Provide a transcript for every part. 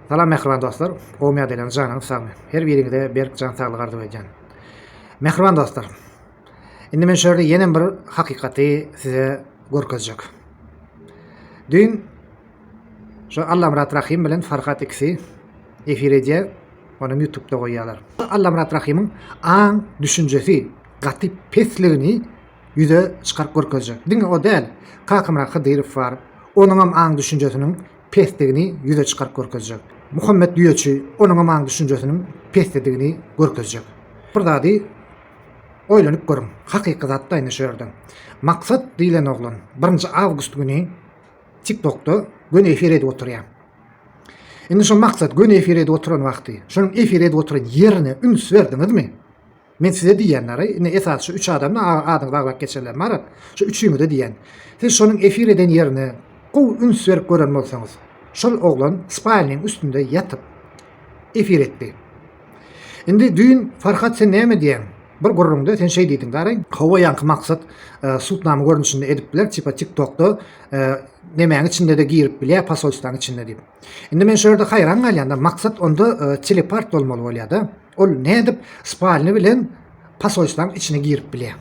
Salam mähriban dostlar, gowmy ýagdaýlaryňyz janyňyz sagmy? Her biriňize berk jan saglygy arzuw edýän. Mähriban dostlar, indi men şu ýerde ýenem bir hakykaty size görkezjek. Düýn şu Allamyrat Rahym bilen Farhat ikisi efir edýär, ony ýutubda goýýarlar. Allamyrat Rahymyň aň düşünjesi gaty pesligini ýüze çykaryp görkezjek. Diňe o däl, Kakamyrat Hydyrow bar, onuňam aň düşünjesiniň pesdigini ýüze çykaryp görkezjek. Muhammet düýeçi onuňam aň düşünjesiniň pesdedigini görkezjek. Bir zady oýlanyp görüň, hakyky zatda indi şu ýerde. Maksat diýlen oglan birinji awgust güni TikTokda göni efir edip oturýar. Indi şu Maksat göni efir edip oturan wagty, şonuň efir edip oturan ýerine üns berdiňizmi? Men size diýýänleri, indi esasy şu üç adamyň adyny baglap geçerler, Marat, şu üçüňize diýýän. Siz şonuň efir eden ýerine gowy üns berip gören bolsaňyz, şol oglan spalniň üstünde ýatyp, efir etdi. Indi düýn, Farhat, sen näme diýýäň? Bir gürrüňde sen şeý diýdiň, Garry. Hawa, ýaňky maksat sudnama görnüşinde edip biler, tipa TikTokda nemäň içinde-de girip bilýär, posolstwaň içinde diýip. Indi men şu ýerde haýran galýan-da, maksat onda telepart bolmaly bolýar-da. Ol nädip spalny bilen pasoýstanyň içine girip bilýär?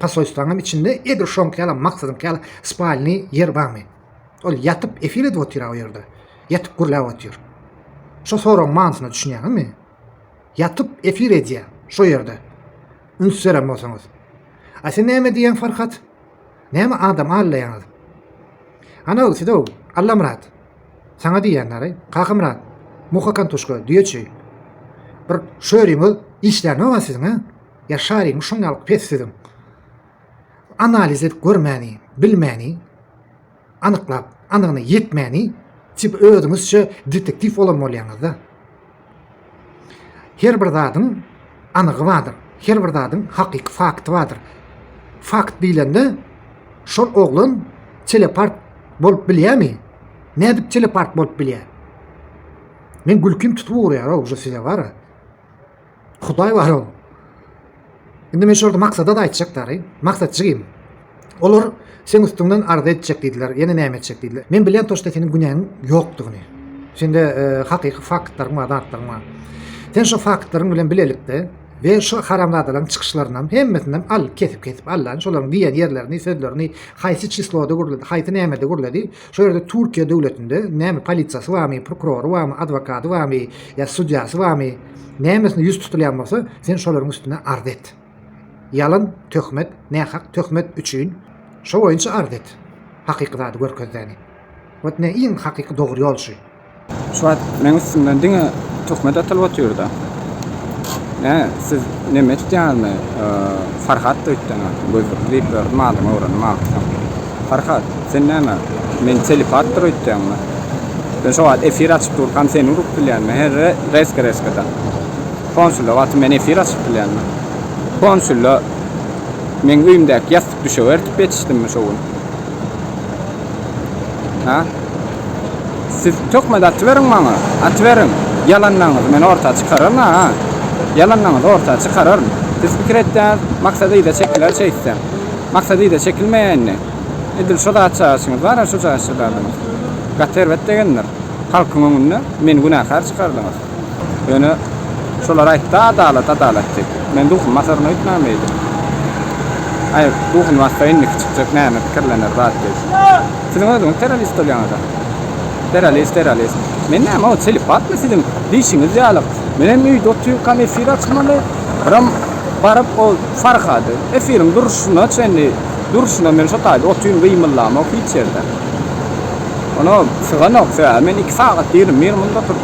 Pasoýstanyň içinde edil şoňky ýaly maksadyňky ýaly spalny ýer barmy? Ol ýatyp efir edip otyr-a o ýerde. Ýatyp gürläp otyr. Şo soragyň manysyna düşünýäňizmi? Ýatyp efir edýär şo ýerde. Üns beren bolsaňyz. A sen näme diýýäň Farhat? Näme adam allaýaňyz? Ana-ow siz-ow, Allamyrat. Saňa diýýänler-eý, Kakamyrat, Muha Kantuşka, Düýeçi. Bir şöriňiz işlänok-a siziň-ä? Ýa şaryňyz şoň ýaly pes siziň? Analiz edip görmäni, bilmäni, anyklap, anygyna ýetmäni, tip özüňizçe detektiw bolan bolýaňyz-da. Her bir zadyň anygy bardyr. Her bir zadyň hakyky fakty bardyr. Fakt diýlende şol oglan telepart bolup bilýärmi? Nädip telepart bolup bilýär? Men gülkim tutup urýar-ow şu size bara. Hudaý bar-ow. Indi men şurada maksada-da aýtjak dary. Maksat jigim, olar seň üstüňden arza etjek diýdiler, ýene näme etjek diýdiler. Men bilýän toçta seniň günäňiň ýokdugyny. Sende hakyky faktlaryň bar, zatlaryň bar. Sen şo faktlaryň bilen bilelikde we şo haramzadalaryň çykyşlaryndan hemmesinden al, kesip-kesip al-da, şolaryň diýen ýerlerini, sözlerini, haýsy çisloda gürledi, haýsy nämede gürledi, Şu ýerde Türkiýe döwletinde näme polisiýasy barmy, prokurory barmy, adwokady barmy, ýa sudýasy barmy, nämesine ýüz tutulýan bolsa, sen şolaryň üstüne arz et. Ýalan töhmet, nähak töhmet üçin şo boýunça arz et. Hakyky zady görkezäni. Wot ne iň hakyky dogry ýol şu. Şu wagt meň üstümden diňe töhmet atylyp otyrda. Nä, siz nemes dälmi? Farhat da üýtgäne gözlükli diýip gördüm adyňy öwrendim agtygyň. Farhat, sen näme, meni telipatdyr öýtýäňmi? Men şo wagt efir açyp durkam seni urup bilýänmi? He, reska-reska-da. Konsulda wagty men efir açyp bilýänmi? Konsulda meň öýümdäki ýassygy Düşek ertip ýetişdimmi şo gün? Ha? Siz töhmet atyberiň maňa, atyberiň. Ýalanyňyzy men orta çykararyn, ha? Ýalanyňyzy orta çykararyn. Siz pikir etýäňiz, Maksat yza çekiler şeýtsem. Maksat yza çekilmeýär indi. Edil şo zatçagaçyňyz bar-a, şo jaşja zadyňyz. Gaty erbet degendir. Halkyň öňünde meni günäkär çykardyňyz. Ýöne şolar aýtdy, Adalat, adalat diýip. Men duhum basaryn öýtmäň beýdip. Aý, duhuny bassa indiki çykjak näme pikirlener zat biz. Siziň özüňiz terrorist bolýaňyz-a. Terrorist, terrorist. Men näme o telipatmy siziň diýşiňiz ýaly. Men hem öýde otyrkam efir açmaly, biram baryp o Farhady, efiriň durşuna çenli, durşuna men şo taýda otyryn gymyllamok hiç ýerde. Ony syganok sebäbi men iki sagat ýigrimi bir munda oturdym.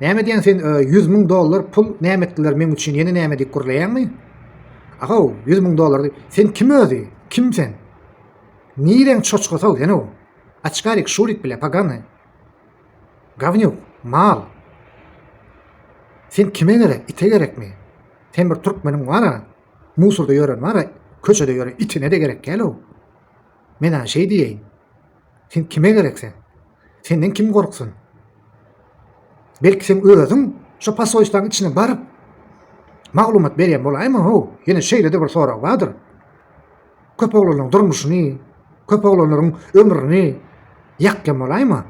Näme diýen sen ýüz müň dollar pul näme etdiler meň üçin ýene näme diýip gürleýäňmi? Ahaw, ýüz müň dollar sen kim özi? Kim sen? Nireň çoçgasaw sen o? Açkarik, şurik bile, pagany. Gavnyuk, mal. Sen kime gerek, ite gerekmi? Sen bir türkmeniň wara, musurda ýören wara, köçede ýören itine de gerek gel o. Men aň şeý diýeýin. Sen kime gerek sen? Senden kim gorksun? Belki sen özüň şu pasoýçlaň içine baryp maglumat berýän bolaýma ho, ýene şeýle-de bir sorag bardyr. Köp oglanlaryň durmuşyny, köp oglanlaryň ömrüni ýakýan bolaýma.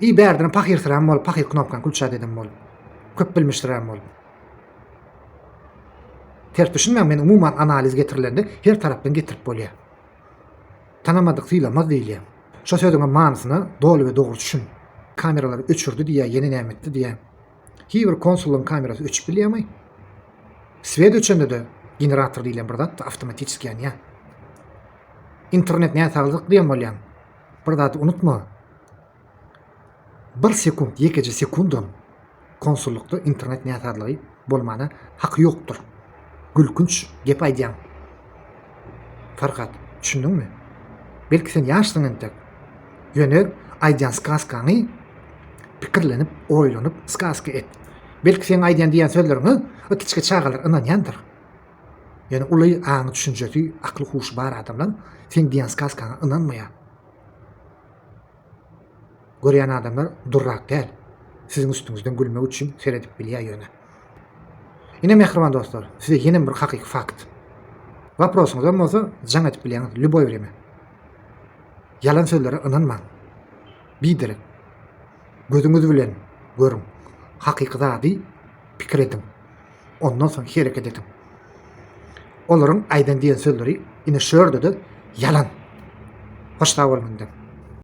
Iý bärdine pahyrsyrän bol, pahyr knopkaň külçä deden bol. Köp bilmişdirän bol. Ters düşünmäň, men umuman analiz getirilende her tarapdan getirip bolýar. Tanamadyk sylamaz diýilýär. Şo sözüňem manysyna doly we dogry düşün. Kameralary öçürdi diýýä ýene näme etdi diýýä. Hibir konsullaň kamerasy öçüp bilýämi? Swet öçende-de generator diýilýän bir zat awtomatiçeski ýanýa. Internet näsaglyk diýen bolýaň. Bir zady unutma. Bir sekunt ýekeje sekundam konsullykda internet näsazlygy bolmana haky ýokdur gülkünç gep aýdýaň Farhat düşündiňmi belki sen ýaşsyň entek ýöne aýdýan skaskaňy pikirlenip oýlanyp skaska et belki seň aýdýan diýýän sözleriňe kiçi çagalar ynanýandyr ýöne uly aňy düşünjesi akly huşy bar adamlar seň diýýän skaskaňa ynanmaýar. Görýän adamlar durrak däl. Siziň üstüňizden gülmek üçin seredip bilýär ýöne. Ine mähriban dostlar, size ýenem bir hakyky fakt. Waprosyňyzam bolsa jaň edip bilýäňiz lýuboý wremýa. Ýalan sözlere ynanmaň. Biderek. Gözüňiz bilen görüň. Hakyky zady pikir ediň. ondan soň hereket ediň. Olaryň aýdan diýen sözleri ine şu ýerde-de ýalan. Hoş sag bol menden.